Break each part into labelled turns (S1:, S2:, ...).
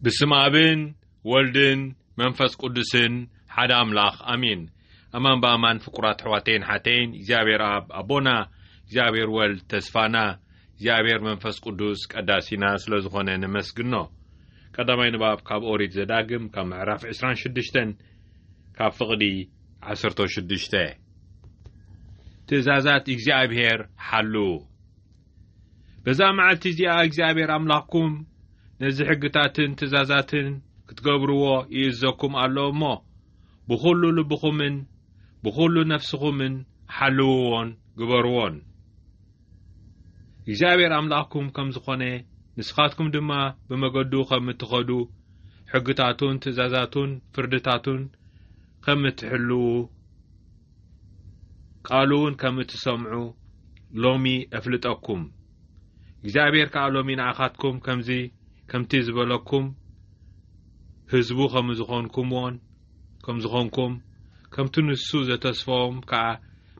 S1: ብስም ኣብን ወልድን መንፈስ ቅዱስን ሓደ ኣምላኽ ኣሚን ኣማን ብኣማን ፍቁራት ኣሕዋተይን ሓተይን እግዚኣብሔር ኣብ ኣቦና እግዚኣብሔር ወልድ ተስፋና እግዚኣብሔር መንፈስ ቅዱስ ቀዳሲና ስለ ዝኾነ ነመስግኖ ቀዳማይ ንባብ ካብ ኦሪት ዘዳግም ካብ ምዕራፍ 26 ካብ ፍቕዲ 16 ትእዛዛት እግዚኣብሔር ሓሉ በዛ መዓልቲ እዚኣ እግዚኣብሔር ኣምላኽኩም ነዚ ሕግታትን ትእዛዛትን ክትገብርዎ ይእዘኩም ኣሎ እሞ ብዅሉ ልብኹምን ብዅሉ ነፍስኹምን ሓልውዎን ግበርዎን እግዚኣብሔር ኣምላኽኩም ከም ዝኾነ ንስኻትኩም ድማ ብመገዱ ኸም እትኸዱ ሕግታቱን ትእዛዛቱን ፍርድታቱን ኸም እትሕልዉ ቃሉውን ከም እትሰምዑ ሎሚ እፍልጠኩም። እግዚኣብሔር ከዓ ሎሚ ንኣኻትኩም ከምዚ ከምቲ ዝበለኩም ህዝቡ ከም ዝኾንኩምዎን ከም ዝኾንኩም ከምቲ ንሱ ዘተስፈዎም ከዓ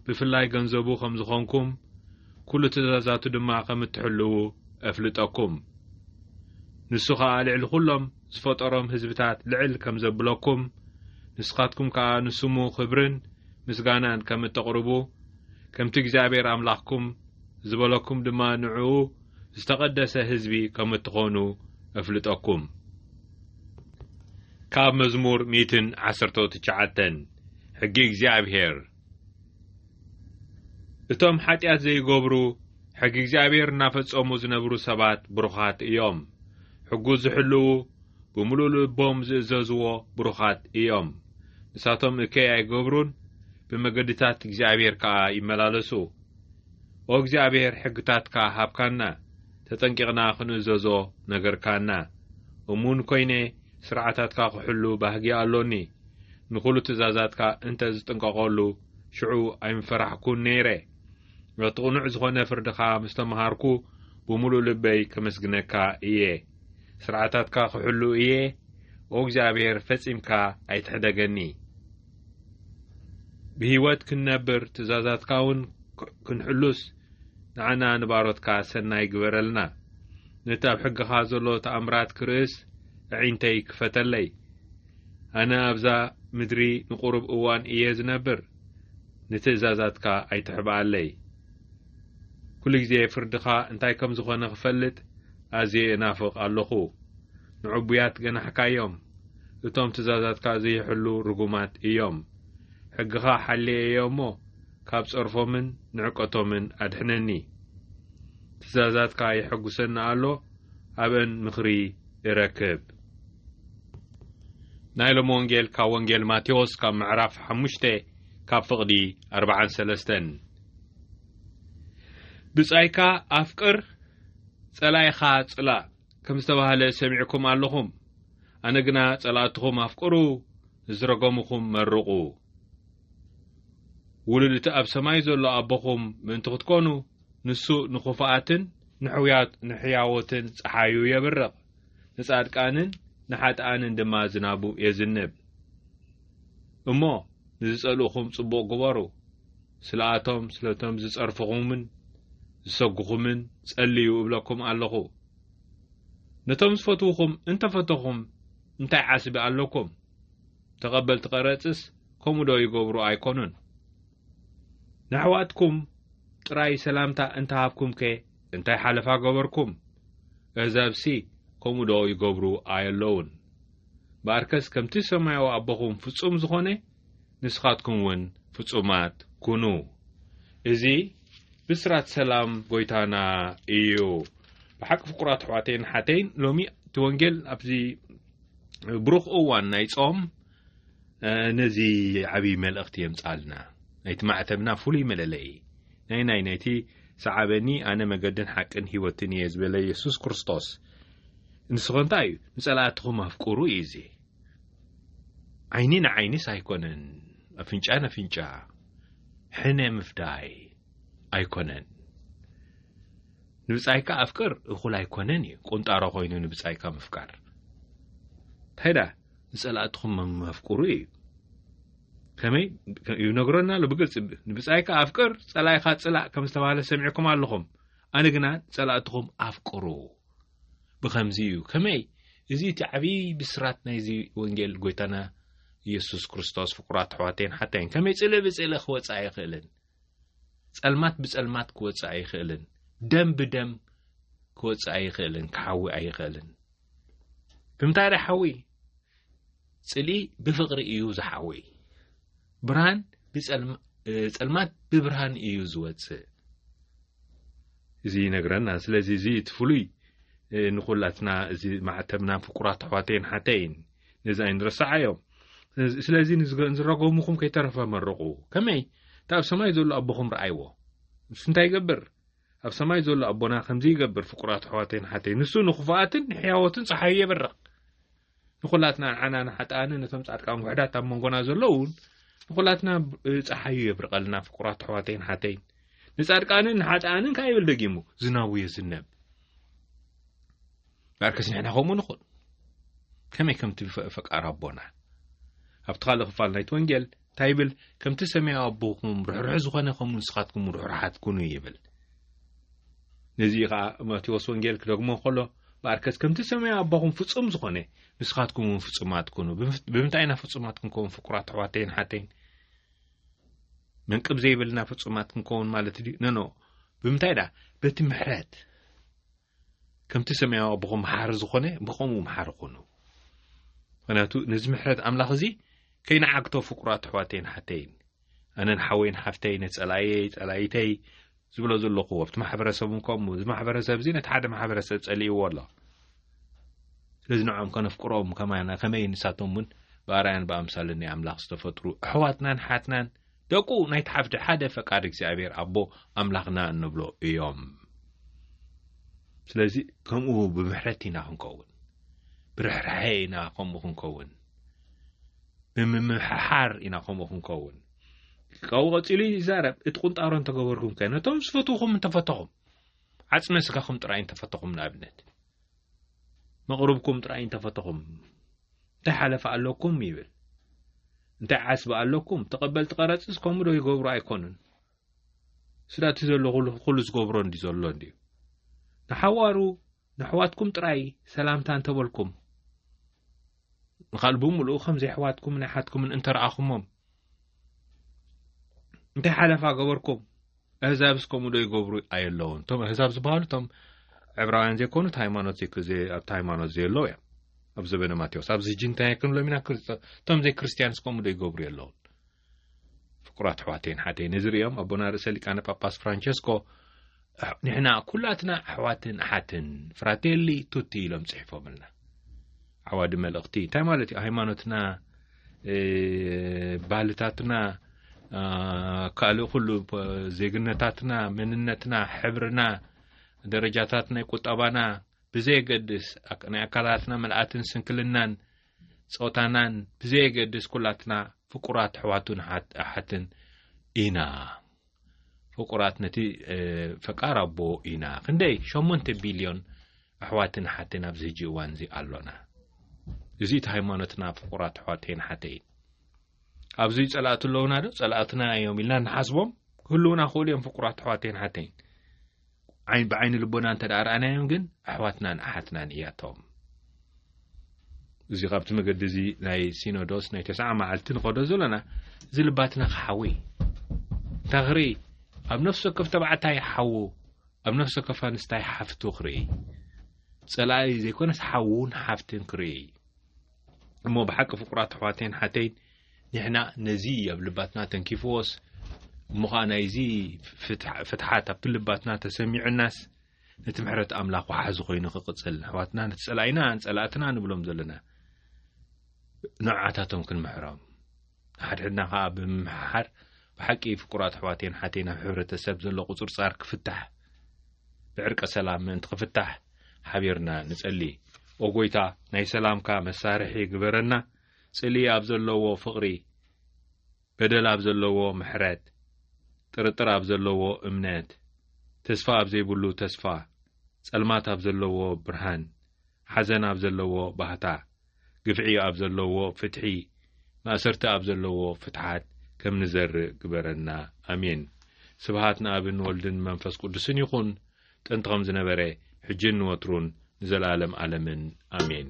S1: ብፍላይ ገንዘቡ ከም ዝኾንኩም ኩሉ ትእዛዛቱ ድማ ከም እትሕልዉ እፍልጠኩም። ንሱ ከዓ ልዕሊ ኩሎም ዝፈጠሮም ህዝብታት ልዕል ከም ዘብለኩም፣ ንስኻትኩም ከኣ ንስሙ ኽብርን ምስጋናን ከም እተቕርቡ፣ ከምቲ እግዚኣብሄር ኣምላኽኩም ዝበለኩም ድማ ንዕኡ ዝተቐደሰ ህዝቢ ከም እትዀኑ እፍልጠኩም። ካብ መዝሙር ሚእትን ዓሰርተው ትሽዓተን ሕጊ እግዚኣብሄር። እቶም ሓጢኣት ዘይገብሩ ሕጊ እግዚኣብሔር እናፈጸሙ ዝነብሩ ሰባት ብሩኻት እዮም። ሕጉ ዝሕልዉ ብምሉእ ልቦም ዝእዘዝዎ ብሩኻት እዮም። ንሳቶም እከይ ኣይገብሩን፣ ብመገድታት እግዚኣብሔር ከኣ ይመላለሱ። ኦ እግዚኣብሔር ሕግታትካ ሃብካና፣ ተጠንቂቕና ክንእዘዞ ነገርካና። እሙን ኮይነ ስርዓታትካ ክሕሉ ባህጊ ኣሎኒ። ንኹሉ ትእዛዛትካ እንተ ዝጥንቀቐሉ፣ ሽዑ ኣይምፈራሕኩን ነይረ። እቲ ቅኑዕ ዝኾነ ፍርድኻ ምስ ተመሃርኩ፣ ብምሉእ ልበይ ከመስግነካ እየ። ስርዓታትካ ክሕሉ እየ፣ ኦ እግዚኣብሔር ፈጺምካ ኣይትሕደገኒ። ብህይወት ክንነብር ትእዛዛትካ እውን ክንሕሉስ ንዓና ንባሮትካ ሰናይ ግበረልና። ነቲ ኣብ ሕግኻ ዘሎ ተኣምራት ክርእስ ኣዒንተይ ክፈተለይ። ኣነ ኣብዛ ምድሪ ንቑሩብ እዋን እየ ዝነብር፣ ንትእዛዛትካ ኣይትሕብኣለይ። ኩሉ ግዜ ፍርድኻ እንታይ ከም ዝኾነ ክፈልጥ ኣዝየ እናፍቕ ኣሎኹ። ንዕቡያት ገናሕካዮም፣ እቶም ትእዛዛትካ ዘይሕሉ ርጉማት እዮም። ሕግኻ ሓልየ እየ እሞ፣ ካብ ጸርፎምን ንዕቀቶምን ኣድሕነኒ። ትእዛዛትካ የሐጉሰኒ ኣሎ፣ ኣብእን ምኽሪ እረክብ። ናይ ሎም ወንጌል ካብ ወንጌል ማቴዎስ ካብ ምዕራፍ ሓሙሽተ ካብ ፍቕዲ ኣርባዓን ሰለስተን ብጻይካ ኣፍቅር ጸላኢኻ ጽላእ ከም ዝተባህለ ሰሚዕኩም ኣለኹም ኣነ ግና ጸላእትኹም ኣፍቅሩ ንዝረገምኹም መርቑ ውሉድ እቲ ኣብ ሰማይ ዘሎ ኣቦኹም ምእንቲ ክትኮኑ ንሱ ንኹፋኣትን ንሕያዎትን ጸሓዩ የብርቕ ንጻድቃንን ንሓጥኣንን ድማ ዝናቡ የዝንብ። እሞ ንዝጸልኡኹም ጽቡቕ ግበሩ፣ ስለኣቶም ስለቶም ዝጸርፍኹምን ዝሰጉኹምን ጸልዩ እብለኩም ኣለኹ። ነቶም ዝፈትውኹም እንተፈተኹም እንታይ ዓስቢ ኣለኩም? ተቐበልቲ ቀረጽስ ከምኡዶ ይገብሩ ኣይኮኑን? ንኣሕዋትኩም ጥራይ ሰላምታ እንተሃብኩምከ እንታይ ሓለፋ ገበርኩም እህዛብሲ ከምኡ ዶ ይገብሩ ኣየለዉን በኣርከስ ከምቲ ሰማያዊ ኣቦኹም ፍጹም ዝኾነ ንስኻትኩም ውን ፍጹማት ኩኑ እዚ ብስራት ሰላም ጎይታና እዩ ብሓቂ ፍቁራት ኣሕዋተይን ሓተይን ሎሚ እቲ ወንጌል ኣብዚ ብሩኽ እዋን ናይ ጾም ነዚ ዓብዪ መልእኽቲ የምጻልና ናይቲ ማዕተብና ፍሉይ መለለዪ ናይ ናይ ናይቲ ሰዓበኒ ኣነ መገድን ሓቅን ህይወትን እየ ዝበለ የሱስ ክርስቶስ ንስኸ እንታይ እዩ ንጸላእትኹም ኣፍቅሩ እዩ እዚ ዓይኒ ንዓይኒስ ኣይኮነን ኣፍንጫ ነፍንጫ ሕነ ምፍዳይ ኣይኮነን ንብጻይካ ኣፍቅር እኹል ኣይኮነን እዩ ቁንጣሮ ኮይኑ ንብጻይካ ምፍቃር እንታይ ንጸላእትኹም ኣፍቅሩ እዩ ከመይ ይነግረና ኣሎ ብግልፂ ንብፃይካ ኣፍቅር ፀላይካ ፅላእ ከም ዝተባሃለ ሰሚዕኩም ኣለኹም ኣነ ግና ፀላእትኹም ኣፍቅሩ ብከምዚ እዩ ከመይ እዚ እቲ ዓብዪ ብስራት ናይዚ ወንጌል ጎይታና ኢየሱስ ክርስቶስ ፍቁራት ኣሕዋተይን ሓተይን ከመይ ፅልእ ብፅልእ ክወፅእ ኣይኽእልን ፀልማት ብፀልማት ክወፅእ ኣይኽእልን ደም ብደም ክወፅእ ኣይኽእልን ክሓዊ ኣይኽእልን ብምንታይ ዶ ሓዊ ጽልኢ ብፍቕሪ እዩ ዝሓዊ ብርሃን ብጸልማት ብብርሃን እዩ ዝወጽእ እዚ ይነግረና ስለዚ እዚ እቲ ፍሉይ ንኩላትና እዚ ማዕተብና ፍቁራት ኣሕዋተይን ሓተይን ነዚ ኣይንረስዓዮ ስለዚ ንዝረገሙኹም ከይተረፈ መርቑ ከመይ እቲ ኣብ ሰማይ ዘሎ ኣቦኹም ረኣይዎ ንሱ እንታይ ይገብር ኣብ ሰማይ ዘሎ ኣቦና ከምዚ ይገብር ፍቁራት ኣሕዋተይን ሓተይ ንሱ ንክፉኣትን ንሕያዎትን ፀሓዩ የበርቕ ንኩላትና ንዓና ንሓጣኣንን ነቶም ጻድቃን ውሕዳት ኣብ መንጎና ዘለውን ንኩላትና ፀሓዩ የብርቐልና ፍቁራት ኣሕዋተይን ሓተይን ንጻድቃንን ንሓጣኣንን ከዓ ይብል ደጊሙ ዝናቡ የዝነብ ዳርከስ ንሕና ከምኡ ንኹን ከመይ ከምቲ ፈቃር ኣቦና ኣብቲ ካልእ ክፋል ናይቲ ወንጌል እንታይ ይብል? ከምቲ ሰማያዊ ኣቦኹም ርሕሩሕ ዝኾነ ከምኡ ንስኻትኩም ርሕሩሓት ኩኑ ይብል። ነዚ ኸዓ ማቴዎስ ወንጌል ክደግሞ ከሎ ብኣርከስ ከምቲ ሰማያዊ ኣቦኹም ፍጹም ዝኾነ ንስኻትኩም እውን ፍጹማት ኩኑ። ብምንታይ ኢና ፍጹማት ክንከውን ፍቁራት ኣሕዋተይን ሓተይን? መንቅብ ዘይብልና ፍጹማት ክንከውን ማለት ድዩ? ነኖ ብምንታይ ደኣ በቲ ምሕረት ከምቲ ሰማያዊ ኣቦኹም መሓሪ ዝኾነ ብኸምኡ መሓሪ ኩኑ ምክንያቱ ነዚ ምሕረት ኣምላኽ እዚ ከይነዓግቶ ፍቁራት ኣሕዋተይን ሓተይን ኣነን ሓወይን ሓፍተይ ነጸላየይ ጸላይተይ ዝብሎ ዘለኹ ኣብቲ ማሕበረሰብ እውን ከምኡ እዚ ማሕበረሰብ እዚ ነቲ ሓደ ማሕበረሰብ ጸልእዎ ኣሎ ስለዚ ንዕኦም ከነፍቅሮም ከማና ከመይ ንሳቶም እውን ብኣርኣያን ብኣምሳልን ናይ ኣምላኽ ዝተፈጥሩ ኣሕዋትናን ሓትናን ደቁ ናይቲ ሓፍቲ ሓደ ፈቃድ እግዚኣብሔር ኣቦ ኣምላኽና እንብሎ እዮም ስለዚ ከምኡ ብምሕረት ኢና ክንከውን ብርሕርሐ ኢና ከምኡ ክንከውን ብምምሕሓር ኢና ከምኡ ክንከውን ካብኡ ቀፂሉ ይዛረብ እቲ ቁንጣሮ እንተገበርኩም ከ ነቶም ዝፈትውኹም እንተፈተኹም ዓፅመ ስጋኹም ጥራይ እንተፈተኹም ንኣብነት መቕርብኩም ጥራይ እንተፈተኹም እንታይ ሓለፋ ኣለኩም ይብል እንታይ ዓስቢ ኣለኩም ተቐበልቲ ቀረፅስ ከምኡ ዶ ይገብሩ ኣይኮኑን ስዳ እቲ ዘሎ ኩሉ ዝገብሮ እንዲ ዘሎ እንዲዩ ንሓዋሩ ንኣሕዋትኩም ጥራይ ሰላምታ እንተበልኩም ንኻል ብምሉኡ ከምዚ ኣሕዋትኩምን ኣሓትኩምን እንተረኣኹሞም እንታይ ሓለፋ ገበርኩም ኣህዛብ እስከምኡ ዶ ይገብሩ ኣየለውን እቶም ኣህዛብ ዝበሃሉ እቶም ዕብራውያን ዘይኮኑ እቲ ሃይማኖት ኣብቲ ሃይማኖት ዘየለዉ እዮም ኣብ ዘበነ ማቴዎስ ኣብዚ ጅንታያ ክንብሎም ኢና እቶም ዘይክርስትያን እስከምኡ ዶ ይገብሩ የለውን ፍቁራት ኣሕዋተይን ሓተይ ነዚ ርእዮም ኣቦና ርእሰ ሊቃነ ጳጳስ ፍራንቸስኮ ንሕና ኩላትና ኣሕዋትን ኣሓትን ፍራቴሊ ቱቲ ኢሎም ጽሒፎምልና ዓዋዲ መልእኽቲ እንታይ ማለት እዩ ሃይማኖትና ባህልታትና ካልእ ኩሉ ዜግነታትና መንነትና ሕብርና ደረጃታት ናይ ቁጠባና ብዘየገድስ ናይ ኣካላትና መልኣትን ስንክልናን ጾታናን ብዘየገድስ ኩላትና ፍቁራት ኣሕዋቱን ኣሓትን ኢና ፍቁራት ነቲ ፈቃር ኣቦ ኢና ክንደይ ሸሞንተ ቢልዮን ኣሕዋትን ኣሓትን ኣብዚ ህጂ እዋን እዚ ኣሎና እዚ እቲ ሃይማኖትና ፍቁራት ኣሕዋተይን ሓተይን ኣብዚ ጸላእቲ ኣለውና ዶ ጸላእትና እዮም ኢልና ንሓስቦም ክህልውና ክእሉ እዮም ፍቁራት ኣሕዋተይን ሓተይን ዓይን ብዓይኒ ልቦና እንተ ርኣናዮም ግን ኣሕዋትናን ኣሓትናን እያቶም እዚ ካብቲ መገዲ እዚ ናይ ሲኖዶስ ናይ ተስዓ መዓልቲ ንኸዶ ዘለና እዚ ልባትና ክሓዊ እንታይ ክርኢ ኣብ ነፍሲ ወከፍ ተባዕታይ ሓዉ ኣብ ነፍሲ ወከፍ ኣንስታይ ሓፍቱ ክርኢ ጸላኢ ዘይኮነስ ሓዉን ሓፍትን ክርኢ እሞ ብሓቂ ፍቁራት ኣሕዋተይን ሓተይን ንሕና ነዚ ኣብ ልባትና ተንኪፍዎስ እሞ ኸኣ ናይዚ ፍትሓት ኣብቲ ልባትና ተሰሚዑናስ ነቲ ምሕረት ኣምላኽ ወሓዚ ኮይኑ ክቕጽል ንሕዋትና ነቲ ጸላኢና ጸላእትና ንብሎም ዘለና ንዓታቶም ክንምሕሮም ንሓድሕድና ከዓ ብምምሕሓር ብሓቂ ፍቁራት ኣሕዋቴን ሓቴን ኣብ ሕብረተሰብ ዘሎ ቁፅርፃር ክፍታሕ ብዕርቀ ሰላም ምእንቲ ክፍታሕ ሓቢርና ንጸሊ ኦጎይታ ናይ ሰላምካ መሳርሒ ግበረና ጽልኢ ኣብ ዘለዎ ፍቕሪ፣ በደል ኣብ ዘለዎ ምሕረት፣ ጥርጥር ኣብ ዘለዎ እምነት፣ ተስፋ ኣብ ዘይብሉ ተስፋ፣ ጸልማት ኣብ ዘለዎ ብርሃን፣ ሓዘን ኣብ ዘለዎ ባህታ፣ ግፍዒ ኣብ ዘለዎ ፍትሒ፣ ማእሰርቲ ኣብ ዘለዎ ፍትሓት ከም ንዘርእ ግበረና። ኣሜን። ስብሃት ንኣብን ወልድን መንፈስ ቅዱስን ይኹን። ጥንቲ ኸም ዝነበረ ሕጅን ንወትሩን ንዘለኣለም ኣለምን ኣሜን።